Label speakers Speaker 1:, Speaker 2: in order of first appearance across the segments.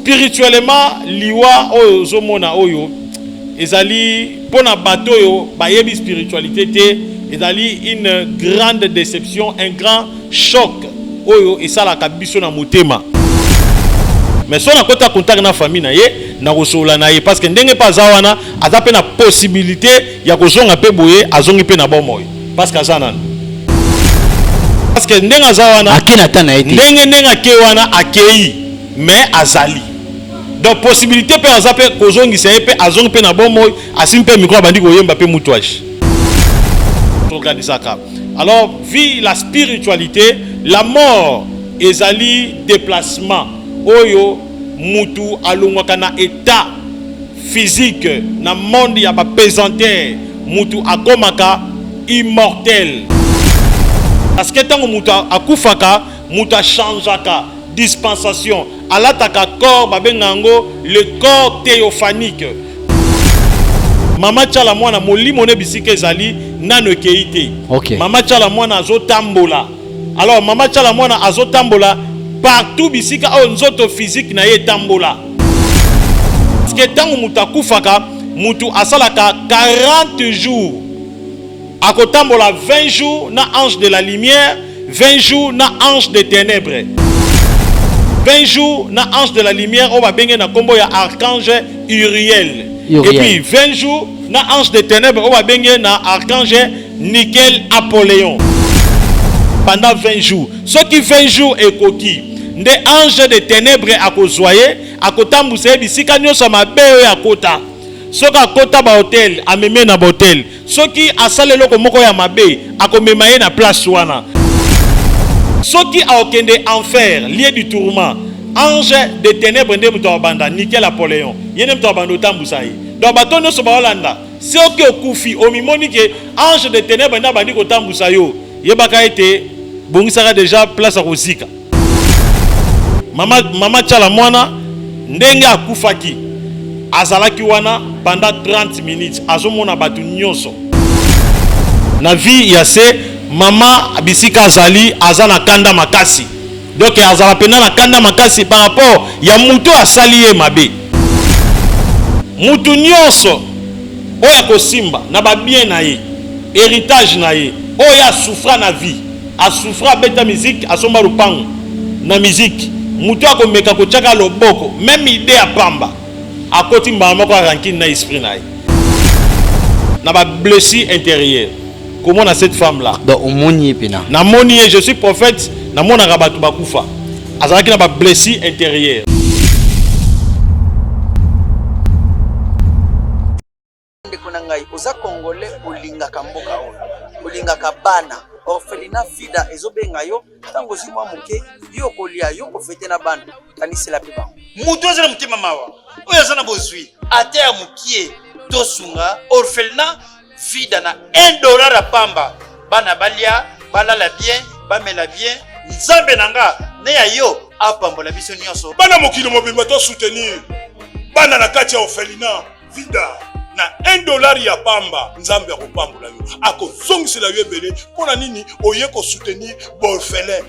Speaker 1: spirituellement liwa oyo ozomona oyo ezali mpo na bato oyo bayebi spiritualité te ezali une grande déception un grand choc oyo esalaka biso na motema mais so nakota contact na famille na ye nakosolola na ye parce que ndenge mpe aza wana aza mpe na possibilité ya kozonga mpe boye azongi mpe na bomoi parce que aza nanu parce que ndenge aza wana ndenge
Speaker 2: ndenge ake wana
Speaker 1: akei mais azali donc possibilité pe aza pe kozongisa ye pe azongi pe na bomoi asimbi pe micro abandi koyemba pe mutu ashi tokanisaka alors vie la spiritualité la mort ezali déplacement oyo mutu alongwaka na état physique na monde ya bapesantere mutu akomaka immortel parce que ntango mutu akufaka Moto a changeaka dispensation, alataka corps babenga yango le corps theophanique. Mama Tshala Mwana molimo ne bisika ezali nano ekeyi te. Okay. Mama Tshala
Speaker 2: Mwana
Speaker 1: azotambola. Alors Mama Tshala Mwana azotambola partout bisika oyo nzoto physique na ye etambola. Parce que tango moto akufaka, moto asalaka 40 jours Akotambola 20 jours na ange de la lumière, 20 jours na ange de tenèbres. 20 jours na ange de la lumière oyo babenge na kombo ya archange Uriel. Uriel. Et puis 20 jours na ange de tenèbres oyo babenge na archange Nickel Apollyon. Pendant 20 jours. Ce qui 20 jours est coquille. nde ange de tenebre akozwa ye akotambusa ye bisika nyonso ya mabe oyo akota soki akota bahotel ameme na bahotel Soki asala eloko moko ya mabe, akomema ye na place wana. Soki akokende enfer, lieu du tourment, ange de tenèbres nde moto akobanda niquer Napoleon. Ye nde moto akobanda kotambusa ye. Donc bato nyonso baolanda. Soki okufi, omimoni que ange de tenèbres nde abandi kotambusa yo, yebaka ete bongisaka dejà place ya kozika. Mama, mama Chala Mwana ndenge akufaki azalaki wana pendant 30 minutes azomona bato nyonso na vie ya se mama bisika azali aza na kanda makasi donc azala mpenza na kanda makasi par rapport ya moto oyo asali ye mabe moto nyonso oyo akosimba na babien na ye héritage na ye oyo asouffra na vie A souffra abeta musique asomba lupangu na musique mutu ako meka ko tiaka loboko meme idee ya pamba akoti mbala moko ya rankine na esprit na ye na ba blessure interieure komona cette femme là donc omoni ye pena
Speaker 2: na moni ye je suis
Speaker 1: prophète na monaka batu bakufa azalaki na ba blessure interieure
Speaker 3: ndeko na ngai oza congolais olingaka mboka oyo olingaka bana orphelina fida ezobenga yo ntango ozwi mwa moke yo okolia yo kofete na bana kanisela mpe bango moto aza na motema
Speaker 4: mawa oyo aza na bozwi ata ya mokie tosunga orphelina fida na 1 dollar ya pamba bana balia balala bien bamela bien nzambe na nga ne ya yo apambola biso nyonso bana mokili mobimba to
Speaker 5: soutenir bana na kati ya orphelina vida na 1 dollar ya pamba nzambe akopambola yo akozongisela yo ebele mpo na nini oye kosoutenir borfelin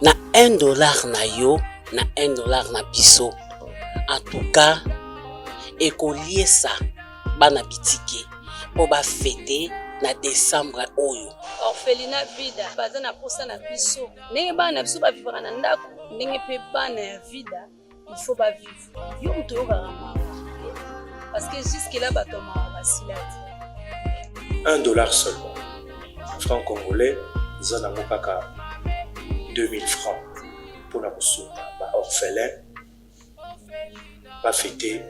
Speaker 5: na 1
Speaker 6: dollar na yo na 1 dollar na biso antuka ekoliesa bana bitike mpo bafete na desembre oyo orphelina
Speaker 7: vida baza na mposa na biso ndenge bana na biso bavivaka na ndako ndenge mpe bana ya vida il faut ba vivre yo moto oyokaka mawa parce que jusque là bato ya mawa basila te un dollar seulement
Speaker 8: franc congolais eza nango kaka 2000 francs mpo na kosunga ba orphelin bafete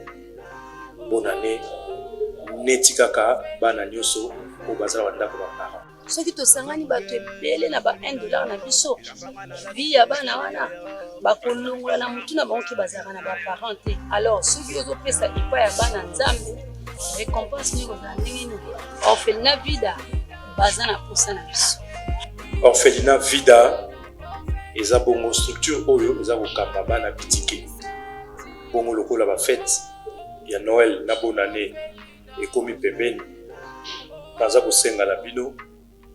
Speaker 8: bonane neti kaka bana nyonso oyo bazala bandako ba parent soki tosangani
Speaker 7: bato ebele na ba 1 dollar na biso vi ya bana wana bakolongola na motu na bango ke bazalaka na baparent te alors soki ozopesa epai ya bana nzambe récompense nini kozala ndenge nini orphelina vida baza na mposa na biso orphelina
Speaker 8: vida eza bongo structure oyo eza kokamba bana bitike bongo lokola bafete ya noel na bonane ekomi pembeni. Naza kosenga na bino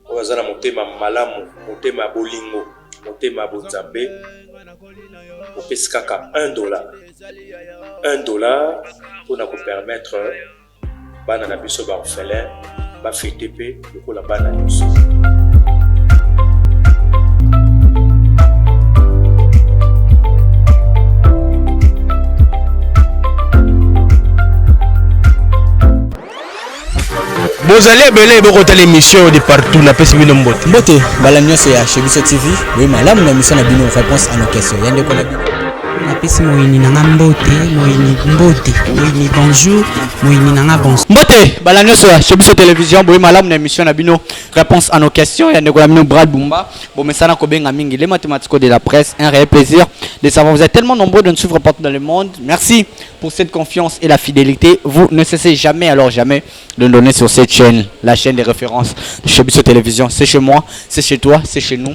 Speaker 8: oyo aza na motema malamu, motema ya bolingo, motema ya bonzambe, opesi kaka 1 dollar 1 dollar mpo na kopermettre bana na biso baorphelin bafete mpe
Speaker 2: lokola bana nyonso. bozali ebele bokotala émission de partout napesi bino mbote mbote bala nyonso
Speaker 9: ya chebiso tv boye malamu na émission na bino réponse à nos questions ya ndeko na bino napesi
Speaker 10: moyini na nga mbote moyini mbote moyini bonjour moyini na nga bonjour mbote bala nyonso ya
Speaker 9: chez biso télévision boye malamu na émission na bino réponse à nos questions ya ndeko na bino brad bumba bomesana kobenga mingi les mathématiques de la presse un réel plaisir de savoir vous êtes tellement nombreux de nous suivre partout dans le monde merci pour cette confiance et la fidélité vous ne cessez jamais alors jamais de nous donner sur cette chaîne la chaîne des références chez biso télévision c'est chez moi c'est chez toi c'est chez nous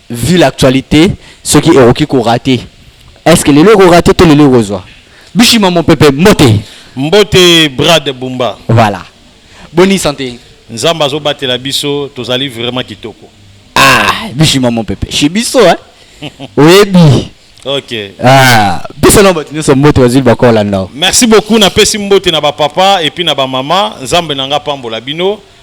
Speaker 9: Vu l'actualite soki ekoki ko rater est ce que lelo eko rater to lelo ekozwa Bishima Mopepe mbote. Mbote Brad
Speaker 1: Bumba. Voilà.
Speaker 9: Boni sante? Nzambe azo batela
Speaker 1: biso tozali vraiment kitoko. Ah,
Speaker 9: Bishima Mopepe. Chez biso hein. Oyebi. Ok. Ah,
Speaker 1: biso na bato nyonso mbote bazwi
Speaker 9: bakolanda. Merci beaucoup napesi
Speaker 1: mbote na ba papa et puis na ba mama. Nzambe na nga apambola bino.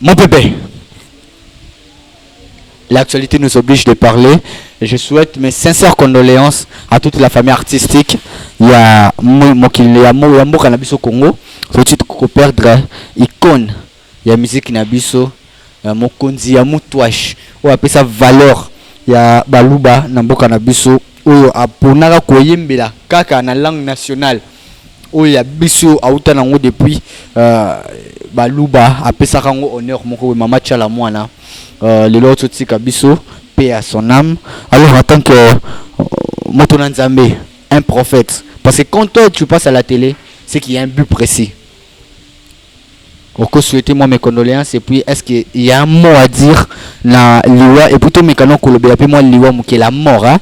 Speaker 9: Mon bébé, l'actualité nous oblige de parler. Je souhaite mes sincères condoléances à toute la famille artistique. Il y a Mokil, il y a Mboka Nabiso Congo. Faut tu perdre icône. Il y a musique Nabiso, euh, Mokonzi, ya Moutouache. On appelle ça valeur. Il y a Baluba, Namboka Nabiso. Oyo aponaka koyembela kaka na langue nationale. oyo ya biso auta nango depuis euh, baluba apesaka yango honneur moko boye mama tiala mwana euh, lelo ozotika biso paix à son âme alors en tant que euh, moto na nzambe un prophète parce que quand toi tu passes à la télé c'est qu'il y a un but précis Oko souhaiter mwa mes condoleances et puis est ce que il ya un mot à dire na liwa et puis to meka nao kolobela pe mwa liwa muke la mort hein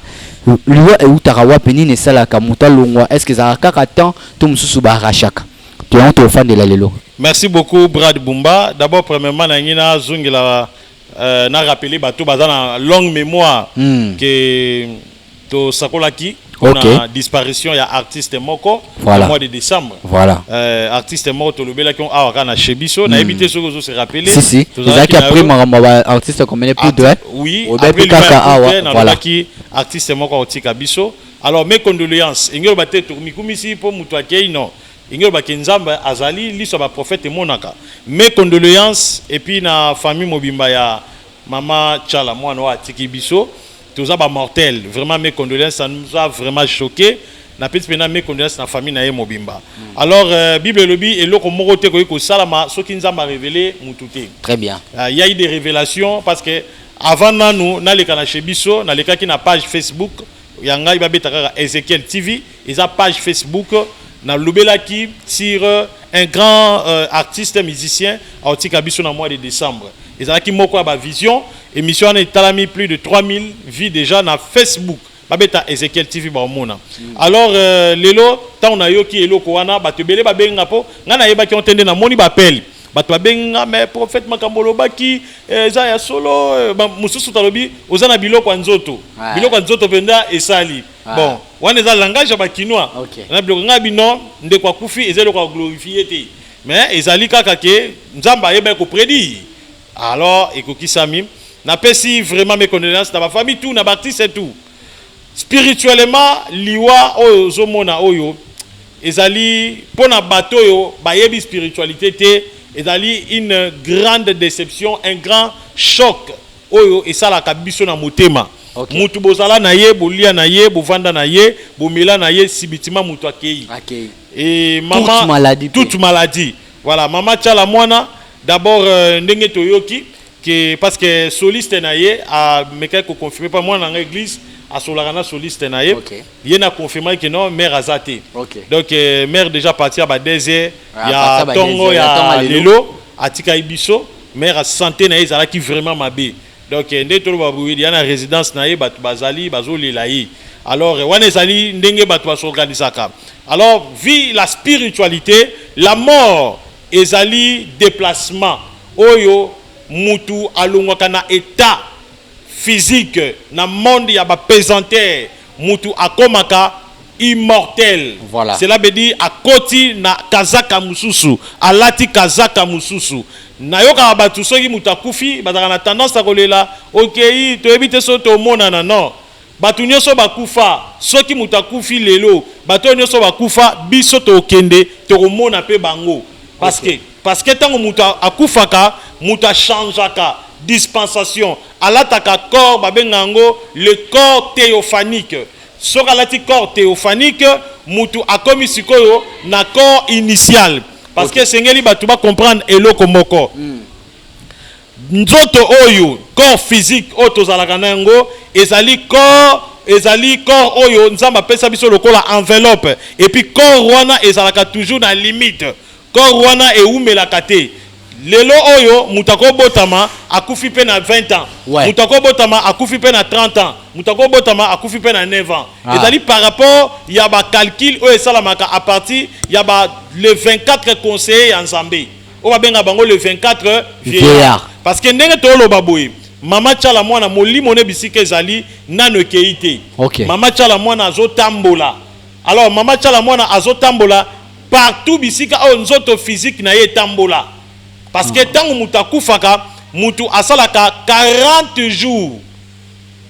Speaker 9: liwa ewutaka wapi nini esalaka mutu alongwa est ce que ezalaka kaka temps to mususu ba arrachaka to yango toko fandela lelo. Merci beaucoup
Speaker 1: Brad Bumba d'abord premièrement na lingi na zongela na rappeler bato baza na longue memoire que To sakolaki pona okay. disparition ya artiste moko voilà. na mois de décembre. Voilà. Euh,
Speaker 9: artiste moko
Speaker 1: to lobelaki on awa kana chez biso mm. na ebité soki ozo se rappeler. Si si. Tozaki après
Speaker 9: makambo ba artiste comme les plus de. Oui. Obebi
Speaker 1: kaka awa. Voilà. Ki artiste moko otika biso. Alors mes condoléances. Ingelo ba tetu mikumisi po mutu akei non. Ingelo ba kenzamba azali liso ba prophète monaka. Mes condoléances et puis na famille mobimba ya mama Chala mwana wa atiki biso. Toza ba mortel vraiment mes condoléances ça nous a vraiment choqué na pesi pena mes condoléances na famille na ye mobimba mm. alors euh, bible elobi eloko moko te koki kosalama soki nzambe arevele mutu te très bien euh, y a
Speaker 9: eu des révélations
Speaker 1: parce que avant nanu naleka na chez biso nalekaki na page facebook ya ngai babeta kaka ezekiel tv Eza page Facebook na lobelaki sur un grand euh, artiste musicien aotika biso na mois de décembre. Ezalaki moko ya ba vision émission wana etalami plus de 3000 vues déjà na Facebook. babeta ezekiel tv baomona alors euh, lelo ntango nayoki eloko wana bato ebele babengi nga mpo ngai nayebaki yango te nde namoni bapele bato babengi nga me prophète makambo olobaki eh, eza ya solo eh, mosusu talobi oza na biloko ya nzoto biloko ya nzoto mpenza esali Ah. bon wana eza langage ya bakinois okay. na biloko ngai bino ndeko akufi eza eloko ya glorifie te mais ezali kaka ke nzambe ayebaki kopredire alors ekokisami napesi vraiment mes condoléances na bafamille tout na baartiste tout spirituellement liwa oyo ozomona oyo ezali mpo na bato oyo bayebi spiritualité te ezali une grande déception un grand choc Oyo esalaka biso na motema. Okay. Mutu bozala na ye, bolia na ye, bovanda na ye, bomela na ye, sibitima mutu akeyi. Akeyi. Et maman, toute maladie. Toute maladie. Voilà, maman Tchala Mwana, d'abord euh, ndenge toyoki que parce que soliste na ye a mekaki ko confirmer pa mwana na église asolaka na soliste na ye okay. ye na confirmaki que non mère aza te okay. donc euh, mère déjà partir ba dese ah, ya tongo ya lelo atikaki biso Mère sante na ye ezalaki vraiment mabe donc nde toloba boye ya na residence na ye bato bazali bazolela ye alors wana ezali ndenge bato ba s'organisaka alors vit la spiritualité la mort ezali deplacement oyo mutu alongwaka na etat physique na monde ya ba pesanteur mutu akomaka immortel voilà. cela veut dire akoti na kazaka mususu alati kazaka mususu nayokaka batu soki mutu akufi bazalaka na tendance ya kolela okeyi toyebi te soki tomonana non batu nioso bakufa soki mutu akufi lelo batu oyo nioso bakufa biso tokokende tokomona pe bango parce que parce que tango mutu akufaka mutu achangeaka dispensation alataka corps babengaka yango le corps theophanique Soki alati corps theophanique, mutu akomi sikoyo na corps initial. Parce que esengeli batu ba comprendre eloko moko. Nzoto oyo, corps physique oyo tozalaka na yango, ezali corps, ezali corps oyo Nzambe apesa biso lokola enveloppe. Et puis corps wana ezalaka toujours na limite. Corps wana ewumelaka te. Lelo oyo mutu ako botama akufi pe na 20 ans, Ouais. mutu ako botama akufi pe na 30 ans, mutu ako botama akufi pe na 9 ans. Ah. Ezali par rapport ya ba calculs oyo esalamaka à partir ya ba les 24 conseillers ya Nzambe. Oyo ba benga bango les 24 Vieillards. vieillards. Parce que ndenge toloba boye, mama Tshala Mwana molimo ne bisika ezali nano ekeyi te. Ok. Mama Tshala Mwana azo tambola. Alors mama Tshala Mwana azo tambola partout bisika oyo nzoto physique na ye etambola parce que ntango moto akufaka moto asalaka 40 jours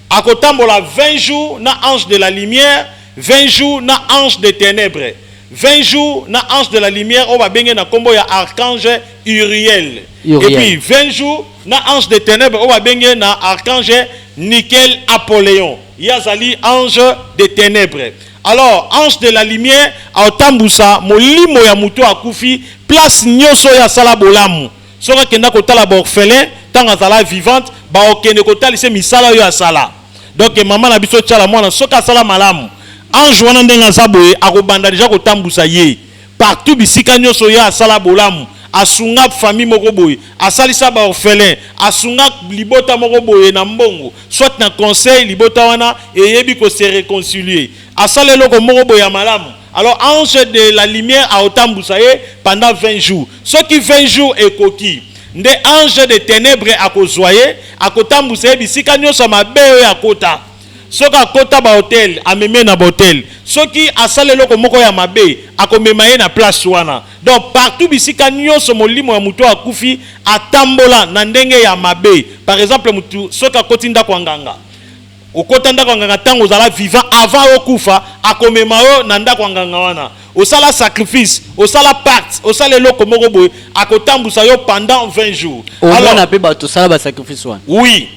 Speaker 1: akotambola 20 jours na ange de la lumière 20 jours na ange de tenèbres 20 jours na ange de la lumière oyo babenge na nkombo ya archange uriel et Uriel. puis 20 jours na ange de tenèbres oyo babenge na archange nickel apoléon ye azali ange de tenèbres Alors ange de la lumière aotambusa molimo ya mutu akufi place nioso oyo asala bolamu soki akenda kotala ba orphelin tango azala vivante baokende kotalise misala oyo asala donc maman na biso tshala mwana soki asala malamu ange wana ndenge aza boye akobanda deja kotambusa ye Partout bisika nioso ye asala bolamu asungap famille moko boye asalisa ba orphelins asungak libota moko boye na mbongo soit na conseil libota wana eyebi ko se reconcilier asala eloko moko boye ya malamu alors ange de la lumière aotambusa ye pendant 20 jours soki 20 jours ekoki nde ange de tenèbres akozua ye akotambusa ye bisika nioso ya mabe oyo akota Soki akota ba hotel amemi ye na ba hotel soki asala eloko moko ya mabe akomema ye na place wana donc partout bisika nionso molimo ya mutu oyo akufi atambola na ndenge ya mabe par exemple mutu soki akoti ndaku ya nganga okota ndaku ya nganga tango ozala vivant avant okufa akomema yo na ndaku ya nganga wana osala sacrifice osala pacte osala eloko moko boye akotambusa
Speaker 9: yo pendant 20 jours
Speaker 1: omona pe
Speaker 9: batu
Speaker 1: sala
Speaker 9: ba sacrifice
Speaker 1: wana
Speaker 9: oui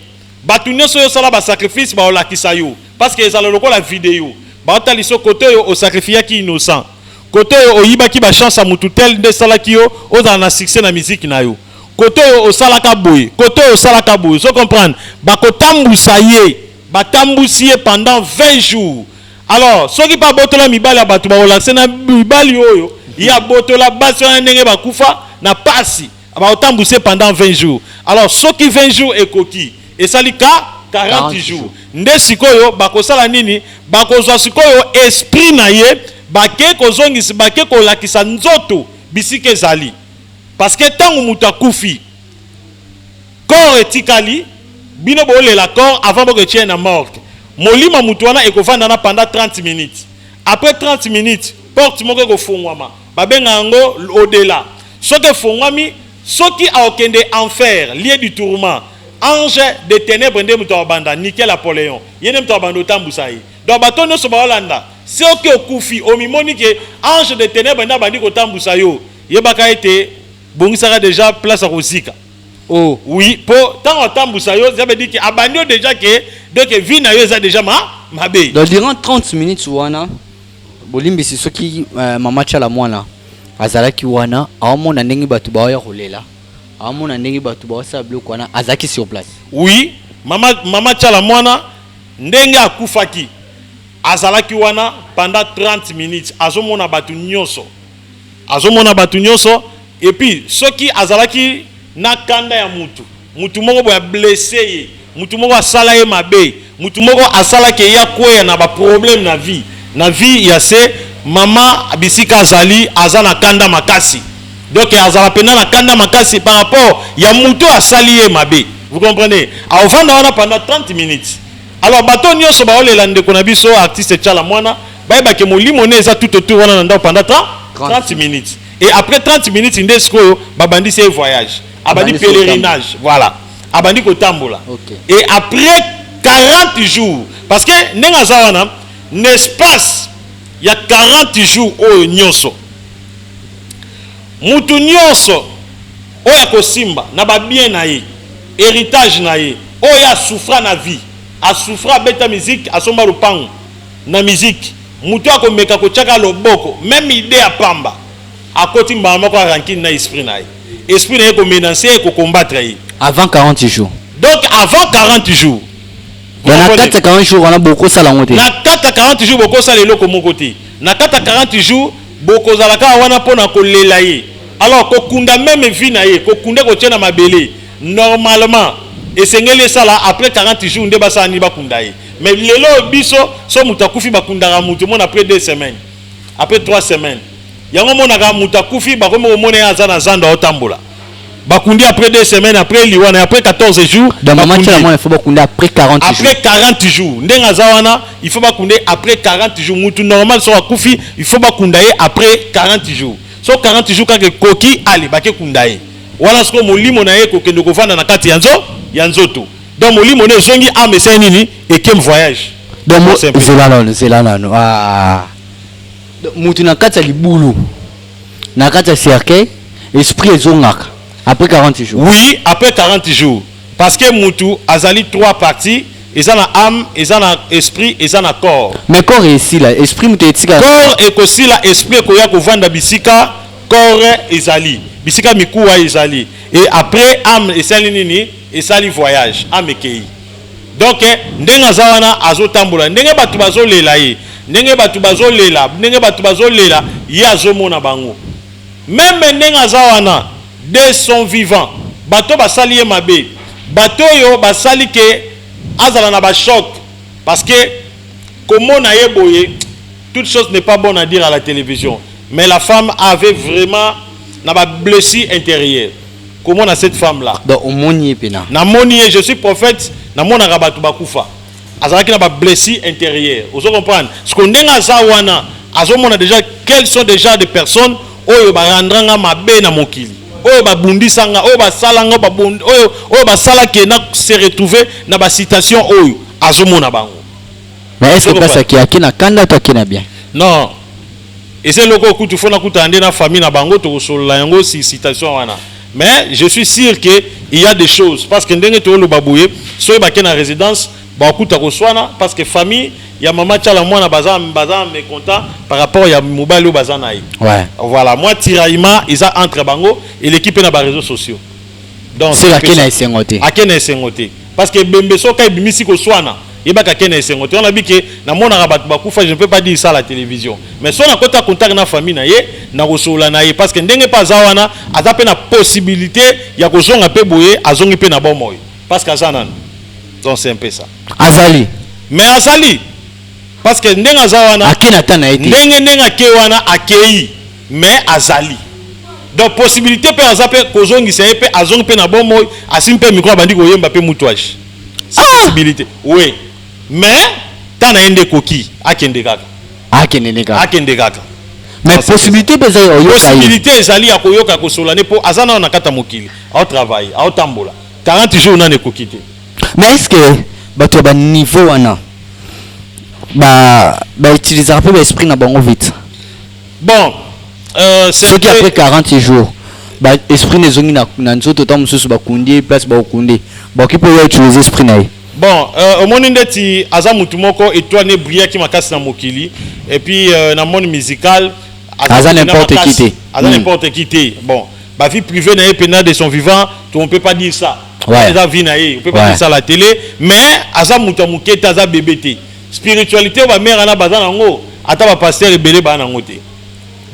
Speaker 9: Batu
Speaker 1: nioso yo sala ba sacrifice bao lakisa yo parce que ezala lokola video bao talisa yo kote oyo o sacrifiaki innocent kote oyo oyibaki ba chance ya mutu tel nde esalaki yo ozala na succès na musique na yo kote oyo osalaka boye kote oyo osalaka boye ozo comprendre bako tambusa ye ba tambusi ye pendant 20 jours alors soki pe abotola mibali ya batu bako lakisa na mibali oyo ye abotola basi wana ndenge ba kufa na pasi Baotambwisa ye pendant 20 jours. Alors soki 20 jours ekoki, esali ka 40 jours. Nde sikoyo bakosala nini? Bakozwa sikoyo esprit na ye, bake kozongisa, bake kolakisa nzoto bisika ezali. Parce que tango moto akufi, corps etikali, bino bolela corps avant boko etie na morgue. Molimo ya moto wana ekovanda na pendant 30 minutes. Après 30 minutes, porte moko ekofungwama. Babenga yango au-dela. Soki efongwami, soki akokende enfer, lieu du tourment, ange des tenebres nde moto akobanda, Nickel Apoleon, ye nde moto akobanda kotambusa ye. Donc bato oyo nionso bakolanda, soki okufi, omimoni que ange des tenebres nde abandi kotambusa yo, yebaka ete bongisaka dejà place ya kozika. Oh! Oui, po tango atambusa yo, cela veut dire que abandi yo dejà que, donc vie na yo eza dejà ma, mabe. Donc durant 30
Speaker 9: minutes wana, Bolimbisi soki mama tshala mwana azalaki wana aomona ndenge batu baoya kolela aomona ndenge batu baosala biloko wana azalaki sur place? Oui
Speaker 1: mama mama tshala mwana ndenge akufaki azalaki wana pendant 30 minutes azomona batu nioso. azomona bato nyonso epuis soki azalaki na kanda ya mutu mutu moko boye ablesse ye mutu moko asala ye mabe mutu moko asala ke ye akweya na ba problème na vie na vie ya se mama bisika azali aza na kanda makasi donc azala pena na kanda makasi par rapport ya mutu oyo asali ye mabe vous comprenez aovanda wana pendant 30 minutes Alors bato nionso baolela ndeko na biso artiste Tshala Muana bayeba ke molimo ne eza tout autour wana na ndako pendant 30 30 minutes et après 30 minutes nde sikoyo babandisi ye voyage abandi Abandisi kotambola. pèlerinage voilà abandi kotambola Ok. et après 40 jours parce que ndenge aza wana na espace ya 40 jours oyo nionso mutu nionso oyo akosimba na ba bien na ye heritage na ye oyo ye a souffra na vie a souffra abeta musique asomba lopangu na musique mutu oyo ako meka ko tia kaka loboko meme idee ya pamba akoti mbala moko ya rancune na esprit na ye esprit na ye eko menancer ye eko combattre ye avant 40 jours
Speaker 9: donc avant 40
Speaker 1: jours Donc na
Speaker 9: kati ya 40 jours wana bokosala yango te na kati ya 40 jours
Speaker 1: bokosala eloko moko te na kati ya 40 jours Bokozala kaka wana mpo na kolela ye. Alors kokunda meme vie na ye, kokunda ekotie na mabele. Normalement esengeli esala après 40 jours nde basala nini? Bakunda ye. Mais lelo oyo biso soki moto akufi bakundaka moto omona après deux semaines, après trois semaines. Yango omonaka moto akufi bakomi komona ye aza na zando aotambola. bakundi après deux semaines après liwana après 14 jours donc maman tshela mwana faut
Speaker 9: bakundi après 40 après jours après 40 jours
Speaker 1: ndenge aza wana il faut bakundi après 40 jours mutu normal soki akufi il faut bakunda ye après 40 jours so 40 jours kaka ekoki ale bake kunda ye wana sikoyo molimo na ye ekokende kovanda na kati ya nzo ya nzoto donc molimo na ezongi ame esali nini ekem voyage donc zela
Speaker 9: nano zela nano ah. mutu na kati ya libulu na kati ya cercueil esprit ezongaka après 40 jours oui après 40
Speaker 1: jours parce que mutu azali trois parties eza na ame eza na esprit eza na corps mais corps esila
Speaker 9: esprit mutu etika corps ekosila
Speaker 1: esprit ekoya kovanda bisika corps ezali bisika mikuwa ezali et après ame esali nini esali voyage ame ekei Donc ndenge aza wana azotambola ndenge bato bazolela ye ndenge bato bazolela ndenge bato bazolela ye azomona bango meme ndenge aza wana de son vivant bato basali ye mabe bato oyo basali ke azala na bachoc parce que komona ye boye toute chose n'est pas bonne à dire à la télévision mais la femme avait vraiment na bablessi intérieure comment na cette femme là donc omoni ye pena
Speaker 9: na moni ye je suis
Speaker 1: prophète na mona ka batu bakufa azalaki na ba blessure intérieure ozo comprendre ce qu'on denga za wana azo mona déjà quels sont déjà des personnes oyo ba rendra nga mabe na mokili oyo ba bundisa nga oyo ba sala nga ba bund oyo oyo ba sala ke na se retrouver na ba situation oyo azo mona bango Mais est-ce que
Speaker 9: place à qui à qui na kanda toi qui na bien? Non. Et
Speaker 1: c'est loco kutu fona kutu ande na famille na bango to solola yango si citation wana. Mais je suis sûr que il y a des choses parce que ndenge to loba boye soki ba na résidence ba kuta ko swana parce que famille ya mama chala mwana baza baza mécontent par rapport ya mobali oyo baza na ye. Ouais. Voilà, moi
Speaker 9: tiraillement
Speaker 1: eza entre bango et l'équipe na ba réseaux sociaux. donc soki ake na esengo
Speaker 9: te ake na esengo te
Speaker 1: parce que ebembe soki ebimisi koswana yebaka ake na esengo te wana bi ke namonaka bato bakufa je ne peux pas dire ça à la télévision mais soki nakota contact na famille na ye nakosolola na ye parce que ndenge mpe aza wana aza mpe na possibilité ya kozonga mpe boye azongi mpe na bomoi parce que aza nani donc c'est un peu ça azali
Speaker 9: mais azali
Speaker 1: parce que ndenge aza wana ake na ta na ye te ndenge
Speaker 9: ndenge ake wana
Speaker 1: akei Mais azali donc possibilite pe aza pe kozongisa ye pe azongi pe na bomoi asimbi pe micro abandi koyemba pe mutu aji c'est ah! possibilité oui mais temps na ye nde ekoki akende kaka akende nde kaka akende kaka
Speaker 9: mais possibilité pe eza oyoka possibilité
Speaker 1: ezali ya koyoka kosola ne po aza nao na kata mokili au travail au tambola 40 jours nani ekoki te mais est ce que
Speaker 9: bato ya baniveau wana bautilisaka ba mpe baesprit na bango vite bon
Speaker 1: euh,
Speaker 9: c'est soki après 40 jours ba esprit ne zongi na, na nzoto ta mususu ba kundi place ba okunde ba okipo ya utiliser esprit na ye bon euh, omoni
Speaker 1: ndeti aza mutu moko etoile ne brillaki makasi na mokili et puis euh, na monde musical aza n'importe
Speaker 9: qui te aza hmm. n'importe qui te bon
Speaker 1: ba vie privée na ye pena de son vivant on peut pas dire ça ouais. eza vie na ye
Speaker 9: on peut pas ouais. dire
Speaker 1: ça à la télé mais aza mutu ya moke te aza bebe te Spiritualite oyo ba mère wana baza na yango ata ba pasteur ebele ba na yango te.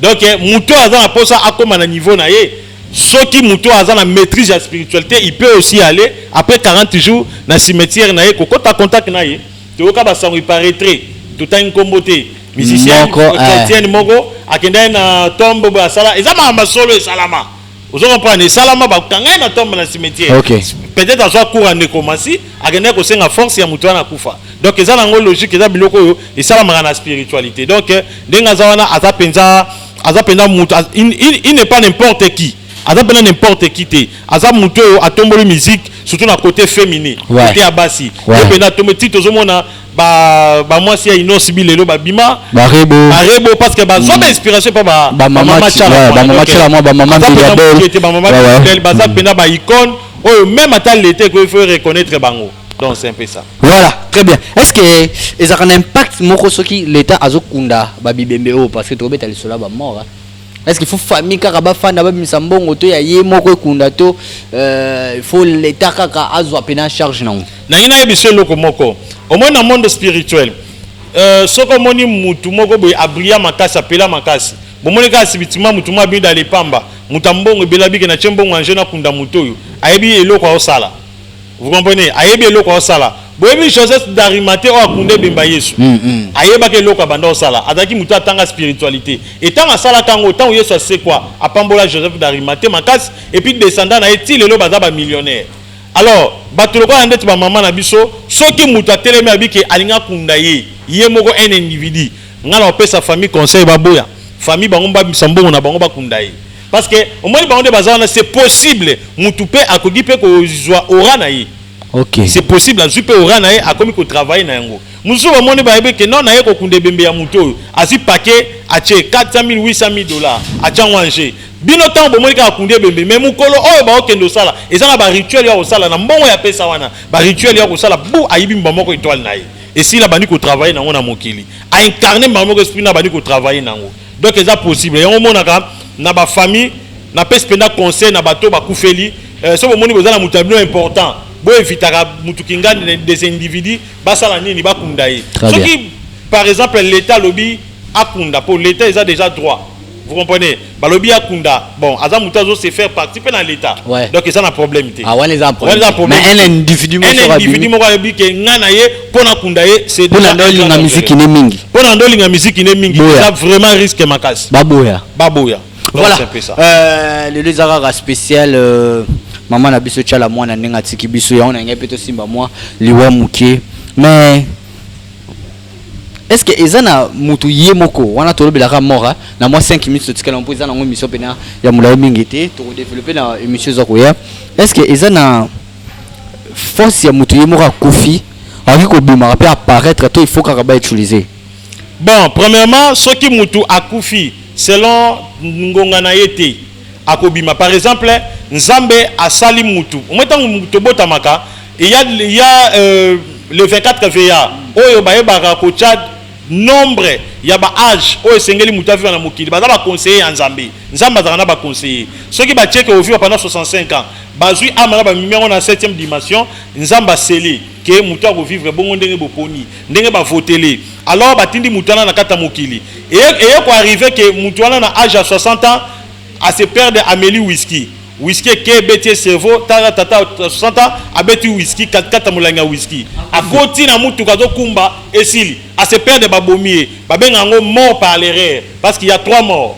Speaker 1: Donc moto oyo aza na posa akoma na niveau na ye soki moto aza na maîtrise ya spiritualite il peut aussi aller après 40 jours na cimetière na ye kokota contact na ye toyoka ba sango il paraîtrait totangi nkombo te musicien Moko, eh. chrétienne moko akendaki na tombe boye asala eza makambo ya solo esalama ozo comprendre esalama bakanga ye na tombe na cimetière okay. peut-être azwa cour ya ndeko masi akendaki kosenga force ya moto wana akufa donc eza nango logique eza biloko oyo esalamaka na spiritualité donc euh, ndenge aza wana aza mpenza aza mpenza moto il n'est pas n'importe qui aza mpenza n'importe qui te aza moto oyo atomboli musique surtout na côté féminin ouais. côté ya basi ouais. ye mpenza atombe ti tozomona ba ba mwasi ya Innoss bi lelo ba bima ba rebo ba rebo
Speaker 9: parce que ba
Speaker 1: zwa ba inspiration pa ba ba mama chala ba mama
Speaker 9: chala moi ba mama bi ba bol qui était ba mama
Speaker 1: bi ba za pena ba icône oyo même ata l'été ko il faut reconnaître bango donc c'est un peu ça voilà très bien
Speaker 9: est ce que ezaka na impact moko soki l'état azokunda ba bibembe oyo parce que tobeta lisolo ya ba mort hein? Est-ce qu'il faut famille kaka bafanda babimisa mbongo to ya ye moko ekunda to euh, il faut l'État kaka azwa mpe na charge nango nangi nayebi so eloko
Speaker 1: moko omoni na monde spirituel euh, soki omoni mutu moko boye abria makasi apela makasi bomoni kaka sibitima mutu moko abida lepamba mutu ya mbongo ebelabike na tie mbongo anje nakunda moto oyo ayebi eloko aosala Vous comprenez? Ayebi eloko azosala. Boyebi Joseph d'Arimathee oyo akunda ebemba Yesu? Ayebaki eloko abanda kosala. Azalaki moto oyo atanga spiritualite. Et ntango asalaka yango, ntango Yesu asekwa, apambola Joseph d'Arimathee makasi, et puis descendants na ye tii lelo baza ba millionnaires. Alors, bato lokola ndeti ba mama na biso, soki moto atelemi alobi que alingi akunda ye, ye moko un individu, ngai nakopesa famille conseil baboya famille bango babimisa mbongo na bango bakunda ye. Parce que omoni bango nde baza wana c'est possible mutu pe akoki pe kozwa aura na ye. Okay. C'est
Speaker 9: possible azwi pe
Speaker 1: aura na ye akomi ko travailler na yango. Mususu bamoni bayebi ke non naye kokunda ebembe ya mutu oyo azwi paquet atie 400.000 800.000 dollars atie yango en jeu. Bino tango bomoni kaka kundi ebembe mais mukolo oyo baokende osala eza na ba rituel ya kosala na mbongo ya pesa wana ba rituel ya kosala bu ayibi mbuma moko etoile na ye esila abandi ko travailler na yango na mokili a incarner mbuma moko esprit na abandi ko travailler na yango Donc eza possible. Yango monaka na ba famille na pesi penda conseil na bato bakufeli euh, soki bomoni boza na moto ya bino important boevitaka moto kingani des individus basala nini bakunda ye soki par exemple l'état alobi akunda mpo l'état eza déjà droit vous comprenez balobi akunda Bon, aza mutu azo se faire partie pe na l'État. Ouais. Donc eza na problème te. Ah, wana eza problème. Wana eza problème.
Speaker 9: Mais un individu moko Un individu moko ayebi
Speaker 1: ke nga na ye pona kunda ye c'est déjà. Pona ndo linga musique
Speaker 9: ne mingi. Pona ndo linga musique
Speaker 1: ne mingi. Eza vraiment risque makasi. Baboya. Baboya.
Speaker 9: Voilà.
Speaker 1: C'est un peu ça. Euh,
Speaker 9: le les arara spécial euh, maman na biso tchala mwana ndenge atiki biso ya on a ngai pe to simba mwa liwa mukie. Mais est ce que eza na mutu ye moko wana tolobelaka mora na mwa 5 minutes totikala mpo eza nango émission mpena ya molai mingi te tokodeveloppe na émission eza koya est ce que eza na force ya mutu ye moko akufi akoki kobimaka mpe apparaître to il faut kaka bautiliser bon
Speaker 1: premièrement soki mutu akufi selon ngonga na ye te akobima par exemple nzambe asali mutu omoi ntango tobotamaka ya ya euh, le 24 va oyo bayebaka kotya nombre ya ba age oyo esengeli moto aviva na mokili baza baconseiller ya nzambe nzambe azalaka na baconseiller soki batieke oviva pendant 65 ans bazwi ama na bamimi yango na 7e dimension nzambe aseli ke moto akovivre bongo ndenge boponi ndenge bavotele Alors batindi moto wana na kati ya mokili. Eye ko arrive que moto wana na age ya 60 ans a se perdre ameli whisky. Whisky eke ebeti ye cerveau, tala tata 60 ans abeti whisky kati kati ya molangi ya whisky. Akoti na motuka azo kumba esili. A se perdre babomi ye. Babenga yango mort par l'erreur parce qu'il ya trois morts.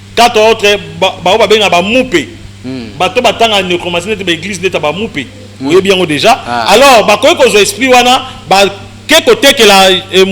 Speaker 1: Quatre autres ba oyo ba benga ba mupe bato ba tanga necromancie neti ba eglise neti ya ba mupe oyebi yango dejà alors ba koki kozua esprit wana ba ke ko tekela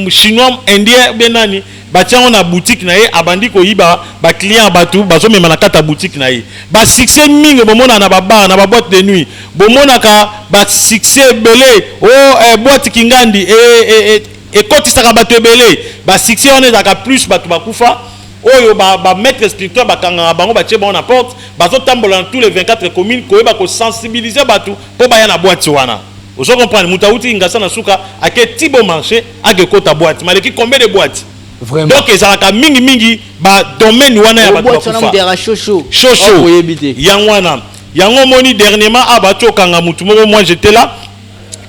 Speaker 1: chinois indien ou bien nani ba tia yango na boutique na ye abandi ko yiba ba clients ya bato bazo mema na kati ya boutique na ye ba succès mingi bo monaka na ba bar na ba boite de nuit bo monaka ba succès ebele oh eh boite kingandi eh eh ekotisaka bato ebele ba succès wana ezalaka plus bato ba kufa Oyo ba ba maitre spiritual ba kangaka bango batie bango na porte bazo tambola na tout les 24 communes koyeba ko sensibiliser batu po baya na boite wana ozo comprendre mutu awuti kingasa na suka ake ti bon marche ake kota boite maleki combien de boite Vraiment. donc ezalaka mingi mingi ba domaine wana ya batu Boite wana bakufa mutu ya shosho. shosho Oyebi te. yango wana yango omoni dernièrement awa bati okanga mutu moko moi j'étais là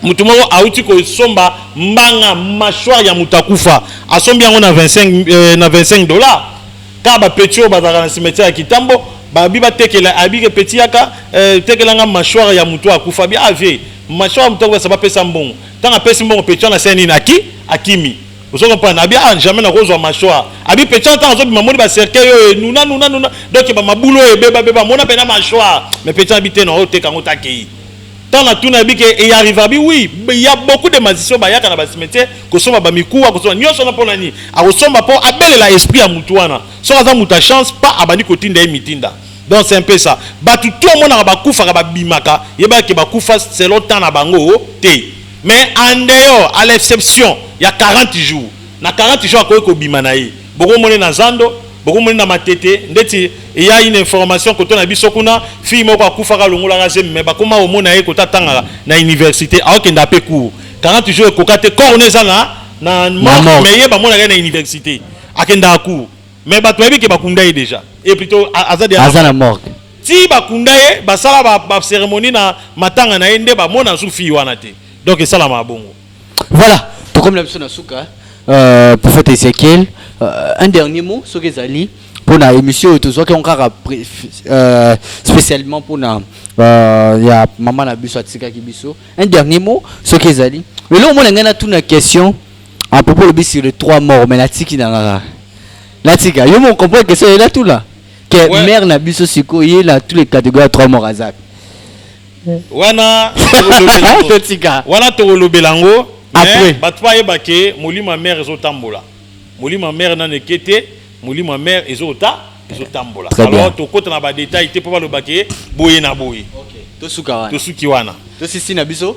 Speaker 1: moto moko auti kosomba mbanga mâchoire ya moto akufa asombi yango na 25, euh, na 25 dollars kaka bapeti oyo bazalaka na cimetière ya kitambo babi batekela abi ke peti yaka euh, tekela nga mâchoire ya moto akufa bi avie ah, mâchoire ya moto akufa bapesa mbongo ntango apesi mbongo peti wana asali nini aki akimi ozo comprendre abi ah jamais nakozwa mâchoire abi peti wana ntango azobima moni bacercueil oyo enuna nuna nuna donc bamabulu oyo ebebabeba mona mpena mâchoire mais peti wana bi te na oteka yango takei Tant na tuna bi ke e arriva bi oui, il ya beaucoup de magiciens ba yaka na ba cimetière ko somba ba mikuwa ko somba nionso na pona nini? A ko somba po a belela esprit ya mutu wana. Soki aza mutu ya chance pa a bandi ko tinda ye mitinda. Donc c'est un peu ça. Batu tout omonaka ba kufaka ba bimaka, yebaka ke ba kufa selon temps na bango te. Mais en dehors, à l'exception ya 40 jours, na 40 jours a koki ko bima na ye. Boko mone na zando, boko mone na matete ndeti il y'a une information koto na biso kuna fille moko akufaka alongolaka zemi mais bakoma komona ye koto atangaka na universite aokenda pe cours 40 jours ekoka te corps ne eza na na morgue mais ye bamonaka ye na universite akendaka cours mais bato bayebi ke bakunda ye deja et plutôt aza deja aza na morgue ti bakunda ye basala ba, ba cérémonie na matanga na ye nde bamona su fille wana te donc esalamaka bongo Voilà,
Speaker 9: tokomi na biso na suka. Euh, prophète Ezekiel, euh, un dernier mot soki ezali mpo na émission oyo tozwaki yango kaka pré- euh, spécialement mpo na euh, ya mama na biso atikaki biso. Un dernier mot soki ezali. Lelo omona ngai natuna question à propos lobi sur les trois morts mais natiki na ngaka. Natika yo mo comprendre question ye natuna. Que Ouais. mère na biso sikoyo ye na tous les catégories ya trois morts azaka.
Speaker 1: wana
Speaker 9: wana tokolobela
Speaker 1: yango bato bayeba ke molimo ya mare ezotambola molimo ya mare nano eke te molimo ya mare ezota ezotambola alors tokota na badetail te mpo baloba ke boye na boye
Speaker 9: tosuki wana
Speaker 1: tosisi na biso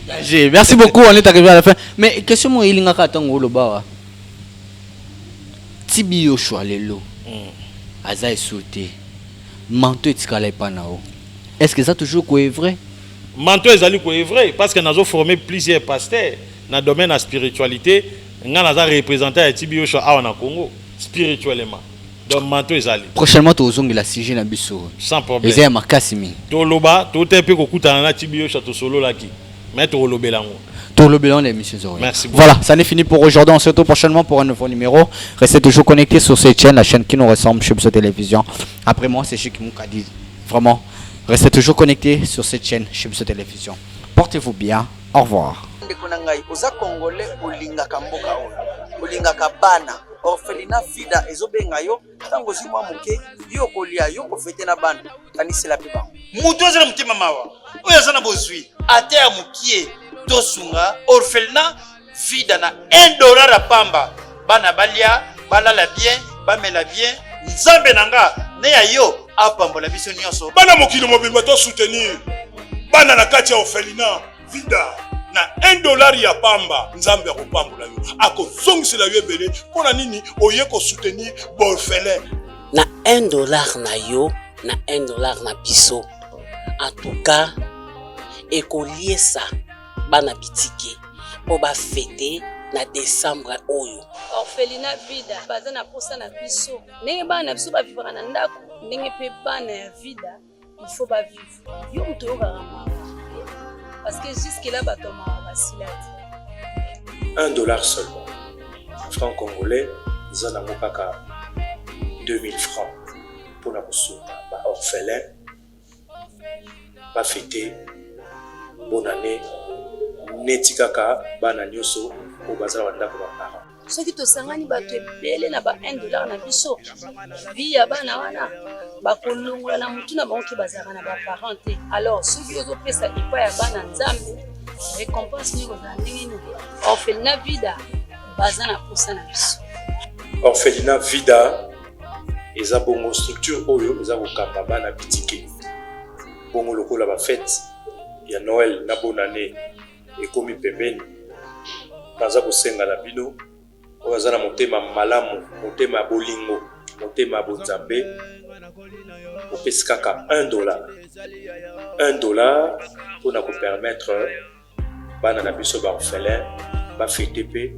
Speaker 1: Danger. Merci beaucoup,
Speaker 9: on est arrivé à la fin. Mais question moi ilinga ka tango loba wa. Tibi Yoshua lelo. Mm. Aza sauté. Manto etikala epa na o. Est-ce que ça toujours quoi est vrai? Manto ezali
Speaker 1: quoi est vrai parce que nazo formé plusieurs pasteurs na domaine la spiritualité, nga naza représentant ya Tibi Yoshua awa na Congo spirituellement. donc manto ezali prochainement tozongela
Speaker 9: sujet na biso sans problème eza
Speaker 1: ya makasi mingi
Speaker 9: toloba
Speaker 1: totali mpe kokutana na tibiyosha tosololaki mais tokolobela yango tolobela yango na
Speaker 9: émission ezo merci beaucoup. voilà ça n'est fini
Speaker 1: pour aujourd'hui
Speaker 9: on se retrouve prochainement pour un nouveau numéro restez toujours connectés sur cette chaîne la chaîne qui nous ressemble chez Biso Télévision après moi c'est Chic Moukadi vraiment restez toujours connectés sur cette chaîne chez Biso Télévision portez-vous bien au revoir ndeko na ngai oza
Speaker 3: congolais olingaka mboka oyo olingaka bana orphelina fida ezobenga yo ntango ozwi mwa moke yo okolia yo kofete na bana kanisela mpe bango moto aza na motema
Speaker 4: mawa oyo aza na bozwi ata ya mokie tosunga orphelina fida na 1 dollar ya pamba bana balia balala bien bamela bien nzambe na nga ne ya yo apambola biso nyonso bana mokili mobimba
Speaker 5: to soutenir bana na kati ya orphelina vida na 1 dollar ya pamba nzambe akopambola yo akozongisela yo ebele mpo na nini oye kosoutenir borfelin na
Speaker 6: 1 dollar na yo na 1 dollar na biso antuka ekoliesa bana bitike mpo bafete na desembre oyo orphelina
Speaker 7: vida baza na mposa na biso ndenge bana na biso bavivaka na ndako ndenge mpe bana ya vida il faut ba vivre yo moto oyokaka mawa parce que jusque là bato ya mawa basila te un dollar seulement
Speaker 8: franc congolais eza nango kaka 2000 francs mpo na kosunga ba orphelin bafete bonane neti kaka bana nyonso oyo bazala bandako ba parent soki tosangani
Speaker 7: bato ebele na ba 1 dollar na biso vi ya bana wana bakolongola na motu na bango ke bazalaka na baparent te alors soki ozopesa epai ya bana nzambe récompense nini kozala ndenge nini orphelina vida baza na mposa na biso orphelina
Speaker 8: vida eza bongo structure oyo eza kokamba bana bitike bongo lokola bafete ya noel na bonane ekomi pembeni. Naza kosenga na bino oyo aza na motema malamu, motema ya bolingo, motema ya bonzambe, opesi kaka 1 dollar 1 dollar mpo na kopermettre bana na biso ba orphelin bafete mpe